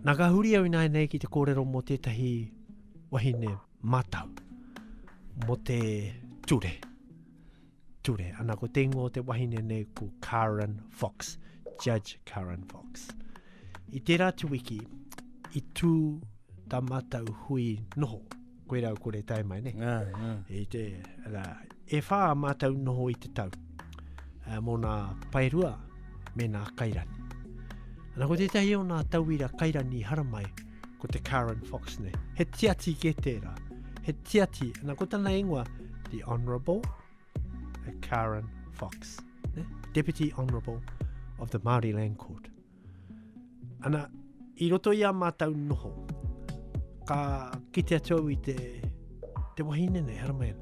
Nā ka huri au ināianei ki te kōrero mō tētahi wahine mātau, mō te ture. Ture. Ana ko te ingoa o te wahine nei ko Karen Fox, Judge Karen Fox. I tērā tuwiki, i tū tā mātau hui noho Koe rau kore tae mai, ne? Ngā, ngā. I te, rā, e whā mātou noho i te tau, uh, mō nā paerua me nā kairani. Ana ko tētahi o nā tauira kairani haramai, ko te Karen Fox, ne? He tiati ke tērā, he tiati, ana ko tana ingoa, the Honourable Karen Fox, ne? Deputy Honourable of the Māori Land Court. Ana, i roto i a mātou noho, ka kite atu au i te, te wahine nei, haramea.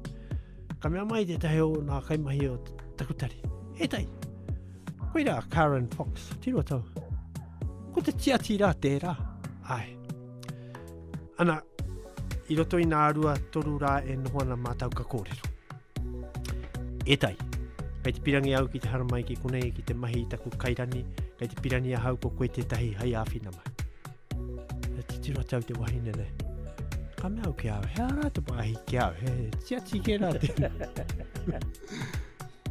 Ka mea mai te tahi o nā kaimahi o Takutari. E tai, koe rā Karen Fox, tiro tau. Ko te tiati rā tērā. Ai. Ana, i roto i nā rua toru rā e noho ana mātou ka kōrero. E tai, kei te pirangi au ki te haramai ki konei ki te mahi i taku kairani, kei te pirangi ahau ko koe tētahi hai āwhina mai. E titiro atu au te wahine nei. Ka mea au ki au, he ara te wāhi ki au, he tiati ki rā te.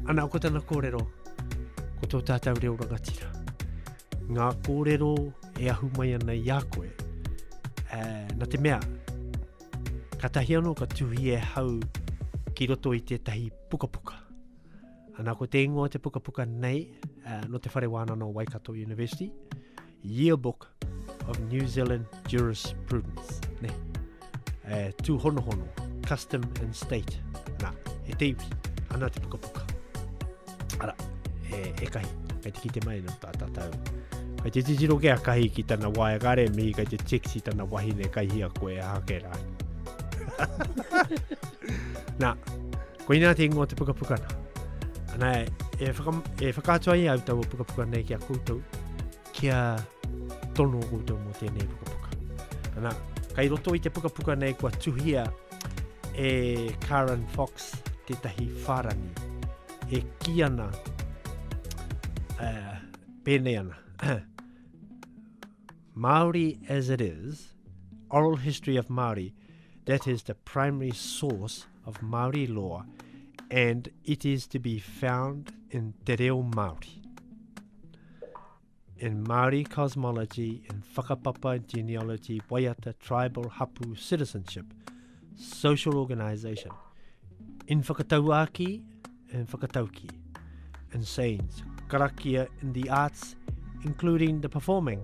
Ana, ko tana kōrero, ko tō tātou reo rangatira. Ngā kōrero e ahu mai ana i a koe, e, na te mea, Katahi ano ka tuhi e hau ki roto i tetahi pukapuka. Ana ko te ingoa te pukapuka nei uh, no te whare wānana o Waikato University, Yearbook of New Zealand Jurisprudence. Ne. Uh, tū hono hono, Custom and State. Na, e te iwi, ana te pukapuka. Ara, e, e kahi, kei te kite mai no tā tātou. Kei te titiro ke a kahi ki tana wae kare, mihi kei te tiksi tana wahine kai hia koe a hake rā. Nā, ko inā te ingoa te pukapuka nā. Ana, e, e, whaka, e whakaatua i au tau o pukapuka nei ki a koutou. Kia tono koutou mō tēnei pukapuka. Ana, kai roto i te pukapuka nei kua tuhia e Karen Fox tētahi whārangi e ki ana uh, pēnei ana. Māori as it is, oral history of Māori, that is the primary source of Māori law and it is to be found in te reo Māori. In Māori cosmology, in whakapapa genealogy, waiata, tribal, hapu, citizenship, social organisation, in whakatauāki, in whakatauki, in sayings, karakia, in the arts, including the performing,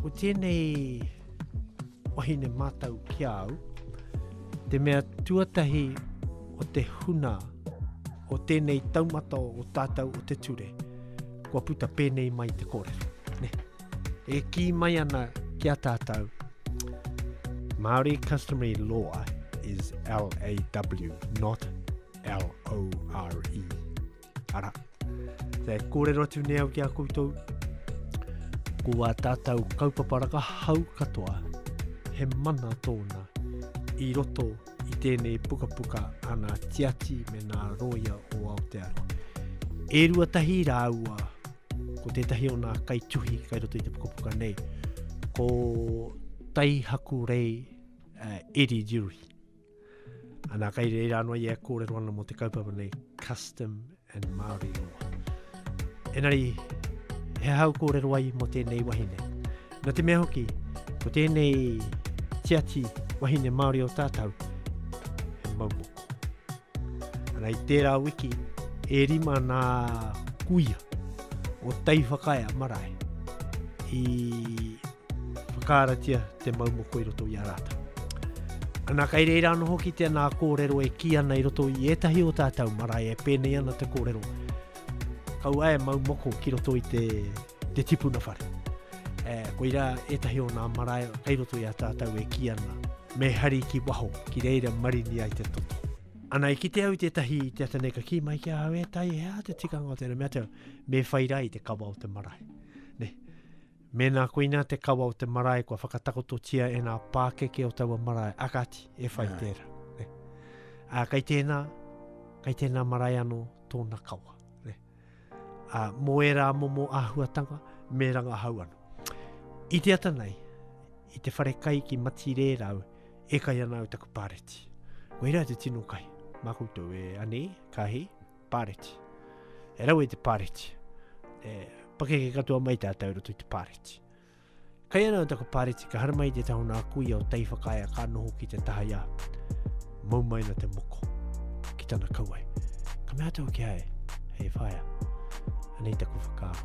Ko tēnei wahine mātau ki a au, te mea tuatahi o te huna o tēnei taumata o tātau o te ture, kua puta pēnei mai te kōrero. Ne? E kī mai ana ki a tātau, Māori customary law is L-A-W, not L-O-R-E. Ara, te kōrero atu nei au ki a koutou, ko a tātou kaupapa raka hau katoa, he mana tōna i roto i tēnei pukapuka ana tiati me nā roia o Aotearoa. E rua tahi rāua, ko tētahi o nā kaituhi kai roto i te pukapuka nei, ko Taihaku Rei uh, eh, Eri Dewey. Ana, kei reira anō ia e kōrero ana mō te kaupapa nei, Custom and Māori Law. Enari, he hau kōrero ai mō tēnei wahine. Nā te mea hoki, ko tēnei tiati wahine Māori o tātou, he maumoko. Ana, i tērā wiki, e rima nā kuia o Teiwhakaea marae i Whakaaratia te mau moko i roto i a rātou. Ana kai reira anō hoki tēnā kōrero e kī ana i roto i ētahi o tātou marae e pēnei ana te kōrero. Kaua e mau moko ki roto i te, te tipuna whare. E, koira ētahi o nā marae kai roto i a tātou e kī ana. Me hari ki waho, ki reira marini ai te toto. Ana i kite au tētahi te ata nei ka kī mai ki a au e tai hea te tikanga o tēnei mea teo me whai rai te kawa o te marae. Ne. Mēnā koinā te kawa o te marae kua whakatakototia e ngā pākeke o taua marae, akati, e whai yeah. tērā. Ne? Ā, kei tēnā, kei tēnā marae anō tōna kawa. Ne? Ā, mō ērā momo āhuatanga, me rangahau anō. I te ata nei, i te whare kai ki Matirē rau, e kai ana au taku pāreti. Koirā te tino kai, mā koutou e ani, kāhi, Pāreti. E rawe te pāreti. E pakeke katoa mai tātou roto i te pāreti. Kai ana o taku pāreti, ka haramai te taho nā kuia o tei whakaia ka noho ki te taha ia. Mau mai na te moko. Ki tana kauai. Ka mea tau ki hae, hei whaia. Anei taku whakaaro.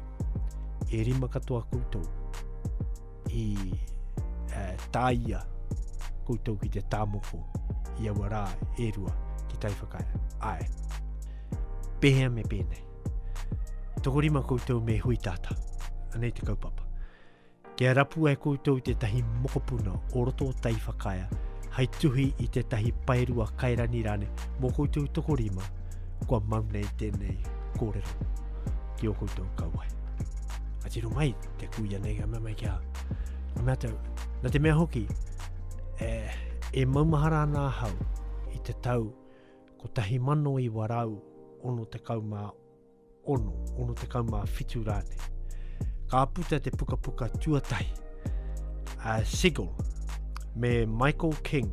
E rima katoa koutou. i uh, tāia koutou ki te tāmoko i aua rā e rua ki tai whakaea. Ae. Pehea me pēnei. Toko rima koutou me hui tātā. Anei te kaupapa. Kia rapu ai koutou te tahi mokopuna o roto o tai whakaea hai tuhi i te tahi paerua kairani rane mō koutou toko rima kua mau nei tēnei kōrero ki o koutou kauai. Atiro mai, Te kuia nei ka mea mai ki a Ka mea tau, na te mea hoki, e, e maumahara ana ahau i te tau ko tahi mano i warau ono te kau mā ono, ono te kau mā fitu rāne. Ka puta te pukapuka tuatahi, a Sigil, me Michael King,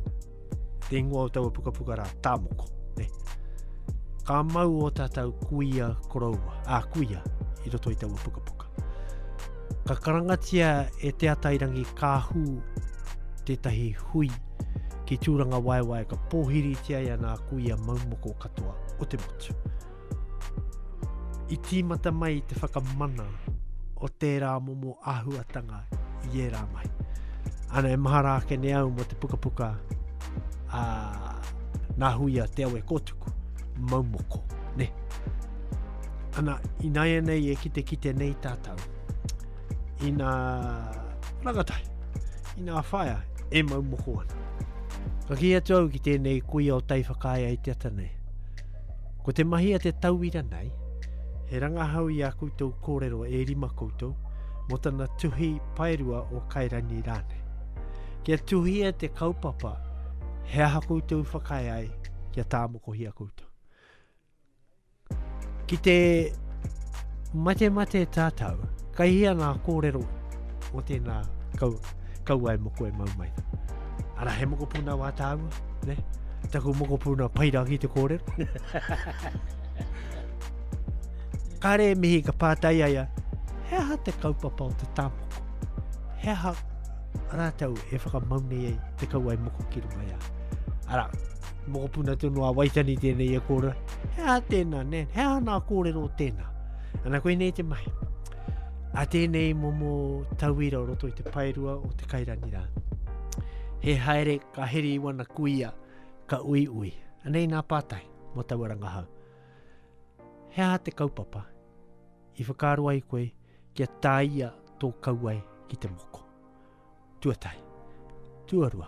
Te ingoa o taua pukapuka rā, Tāmoko. Ne? Ka mau o tātou kuia koroua, a kuia, i roto i taua pukapuka. Ka karangatia e Te Atairangi Kāhū tētahi hui ki Tūranga Waewae ka pōhiritia ia nā kuia maumoko katoa o te motu. I tīmata mai te whakamana o tērā momo āhuatanga i ērā mai. Ana e mahara ake ne au mo te pukapuka a nā huia te awe kōtuku, maumoko, ne. Ana, inaia nei e kite kite nei tātou, ina rangatai, ina whaia e maumoko ana. Ka ki atu au ki tēnei kuia o tai whakaia i te ata nei. Ko te mahi a te tauira nei, he rangahau i a koutou kōrero e rima koutou mō tana tuhi paerua o Kairangi rānei. Kia tuhia te kaupapa, he aha koutou whakae ai kia tāmokohia koutou. Ki te mate mate tātau, kai hia ngā kōrero o tēnā kau, kauae moko e mau mai. Ara he mokopuna wā tāua? Ne? Taku mokopuna pai rangi te kōrero. Kare mihi ka pātai aia, he aha te kaupapa o te tāmoko? He aha rātou e whakamaunei ai te kauai moko ki runga ia? Ara, mokopuna tonu a Waitani tēnei e kōrero. He aha tēnā, ne? He aha nā kōrero tēnā? Ana koe nei te mahi. A tēnei momo tauira o roto i te paerua o te kairani rā. He haere Ka heri i wana kuia, ka uiui. Anei nā pātai mō taua rangahau. He aha te kaupapa i whakaaro ai koe kia tāia tō kauae ki te moko? Tuatahi. Tuarua.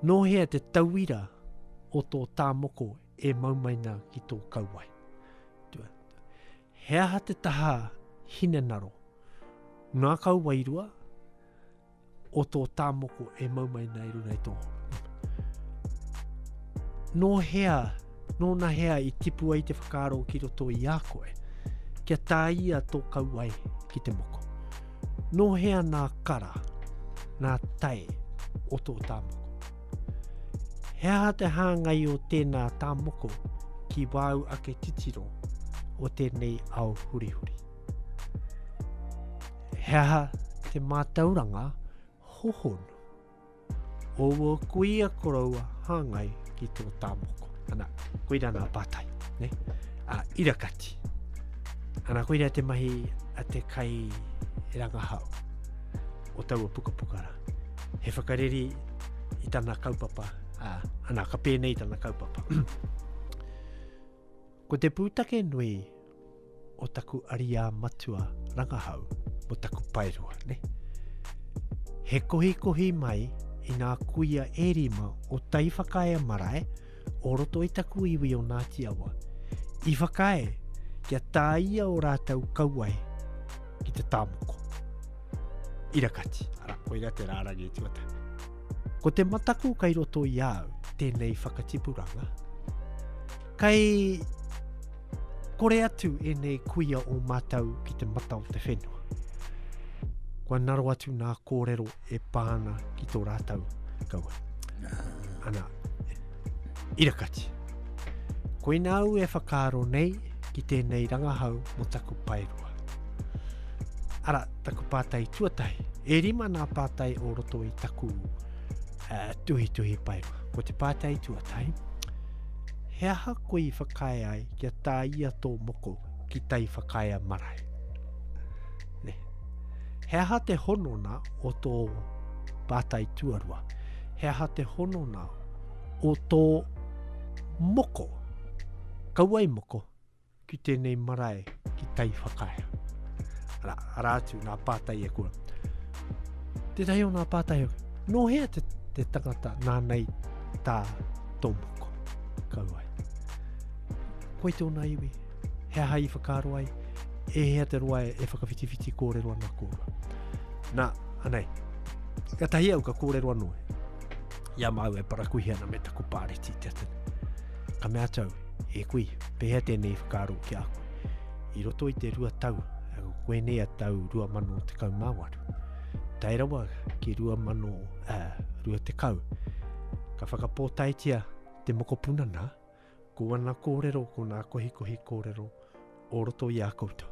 Nō hea te tauira o tō tā moko e mau mai nā ki tō kauae? Tua. He aha te taha hinenaro? Nā kauae rua, o tō tāmoko e mau mai nei runga i tō hōpū. Nō hea, nōna hea i tipu ai te whakaaro ki roto i a koe, kia tāia tō kauai ki te moko. Nō hea nā kara, nā tae o tō tāmoko. He aha te hāngai o tēnā tāmoko ki wāu ake titiro o tēnei ao hurihuri? He aha te mātauranga hohonu? O wō kuia koroua hāngai ki tō tāmoko. Ana, koira nā pātai. Ne? A, irakati. Ana, koira te mahi a te kai rangahau o taua pukapukara. He whakareri i tana kaupapa, a, ana, ka pēnei tana kaupapa. Ko te pūtake nui o taku ariā matua rangahau mo taku paerua, ne? He kohikohi mai i ngā kuia e rima o Taiwhakaea marae o roto i taku iwi o Ngāti Awa. I whakae kia tāia o rātou kauae ki te tāmoko. Irakati, ara, koira te rārangi e tuata. Ko te mataku kai roto i au tēnei whakatipuranga. Kai Kore atu ēnei kuia o mātou ki te mata o te whenua. Kua naro atu nā kōrero e pā ana ki tō rātou kaua. Ana, irakati. Koina au e whakaaro nei ki tēnei rangahau mo taku paeroa. Ara, taku pātai tuatahi. E rima nā pātai o roto i taku uh, tuhi tuhi paeroa. Ko te pātai tuatahi, He aha koe i whakae ai kia tā ia tō moko ki tai whakaea marae? Ne. He aha te honona o tō pātai tuarua? He aha te honona o tō moko? Kauai moko, Ki tēnei marae, ki Taiwhakaea. Ara, ara atu, nā pātai e kua. Tētahi o nā pātai, nō hea te, te tangata nānei tā tō moko? Kauai. Koe tōna iwi, he aha i whakaaro ai, e hea te roa e, e whakawhitiwhiti kōrero ana kōrua. Nā, anei, ka tahi au ka kōrero anō e. Ia māu e parakuhi ana me taku pāreti te atene. Ka mea tau, E kui, pehea tēnei whakaaro ki a koe? I roto i te rua tau, koenei a tau 2018, tae rawa ki 2020, ka whakapōtaetia te mokopuna nā, ko ana kōrero, ko nā kohikohi kōrero, o roto i a koutou.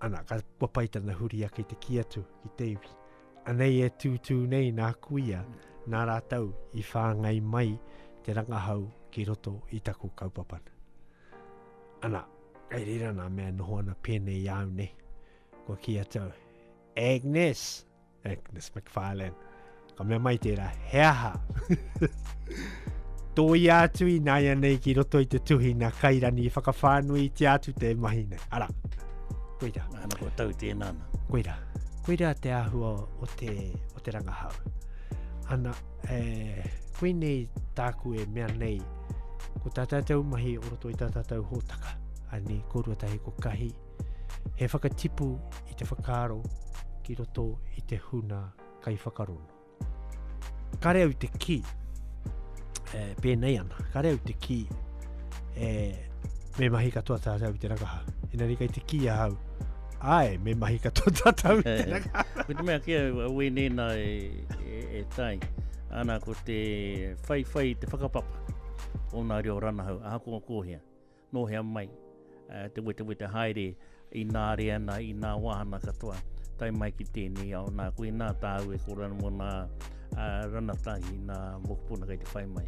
Ana, ka kua pai tana huri ake te ki atu, ki te iwi. Anei e tūtū nei nā kuia, nā rātou i whāngai mai te rangahau ki roto i taku kaupapana. Ana, kei rira nā mea noho ana pēnei i au nei. Kua ki a tau, Agnes, Agnes McFarlane, ka mea mai tērā, he aha? Tō i ātu i nāia nei ki roto i te tuhi nā kairani i whakawhānui i te ātu te mahi nei. Ara, koira. Ana kua tau tēnā. Koira. koirā te āhua o te, o te rangahau. Ana, e, koinei tāku e mea nei, ko tā tātou mahi o roto i tā tātou hōtaka, ani, ko ruatahi ko kahi, he whakatipu i te whakaaro ki roto i te huna kai whakarono. Kare au te ki, e, pēnei ana, kare au te ki, e, me mahi katoa tātou te rakaha. Ina rika i te ki a hau, ai, me mahi katoa tātou te rakaha. Ko te mea ki a wēnēna e, e, e tai, ana ko te whaiwhai te whakapapa o nā reo ranahau, aha ko kōhea. Nō hea mai te wetewete haere i nā reana, i nā wāhana katoa, tae mai ki tēnei ao. Nā, koinā tāu e kōrero ana mō nā ranatahi, nā mokopuna kei te whai mai.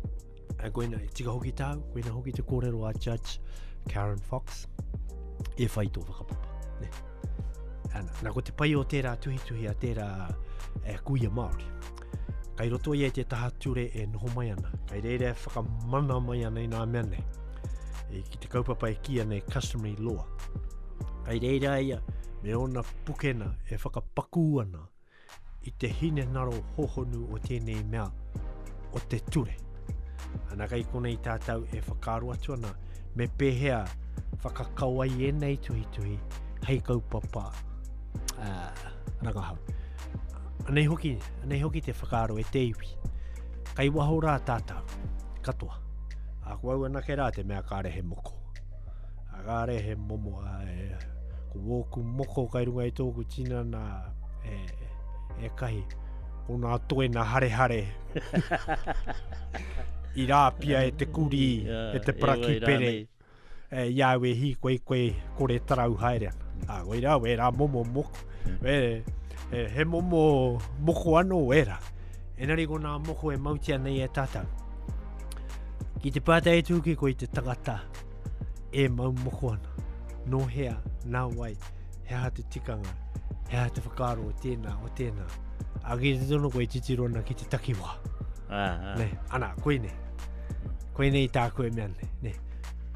A koina, e tika hoki tāu, koina hoki te kōrero a Judge Karen Fox, e whai tō whakapapa. Ne. Ana, nā ko te pai o tērā tuhituhi a tērā e kuia Māori. Kai roto ia i te taha ture e noho mai ana, kai reira e whakamana mai ana i nā mea nei. E, ki te kaupapa e kia nei customary law. Kai reira ia me ona pukena e whakapakū ana i te hine naro hohonu o tēnei mea o te ture. Ana kai kona i tātou e whakaro atu ana me pēhea whakakawai e nei tuhi tuhi hei kaupapa uh, rangahau. Anei hoki, anei hoki te whakaaro e te iwi. Kai waho rā tātou, katoa. A ko au anake rā te mea kāre he moko. A kāre he momo, a, e, ko wōku moko kai runga i tōku tinana e, e kahi. Ko nā toe nā hare hare. I rāpia e te kuri, e te paraki pere. Nei. E ia au e hīkoi koe kore tarau haere ana. Nā, koe rā, wē rā momo moko. Mm. Wē, he, he momo moko anō, wē rā. Enari ko nā moko e mautia nei e tātou. Ki te pātai e tūki koe te tangata e mau moko ana. Nō hea, nā wai, he aha te tikanga, he aha te whakaaro o tēnā, o tēnā. Agi te tono koe titiro ana ki te takiwā. Aha. Ne, ana, koinei. Koinei tāku e mea nei. Ne,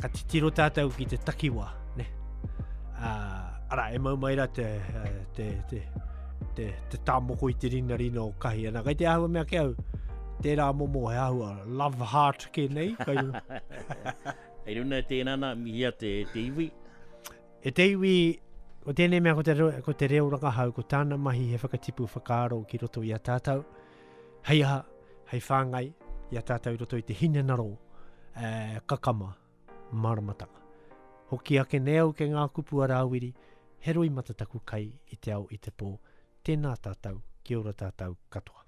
ka titiro tātou ki te takiwa. Ne, uh, ara, e mau mai ra te, uh, te, te, te, te tāmoko i te rina rina o kahi. Ana, kai te ahua mea ke au, tērā momo he ahua, love heart ke nei. Kai runa. Hei runa e tēnā nā, mihia te, te iwi. E te iwi, ko tēnei mea ko te, ko te reo rakahau, ko tāna mahi he whakatipu whakaaro ki roto i a tātou. Hei aha, hei whāngai i a tātou i roto i te hinengaro eh, kakama māramatanga. Hoki ake nei au ke ngā kupu a Rāwiri, he roi matataku kai i te ao i te pō, tēnā tātou, kia ora tātou katoa.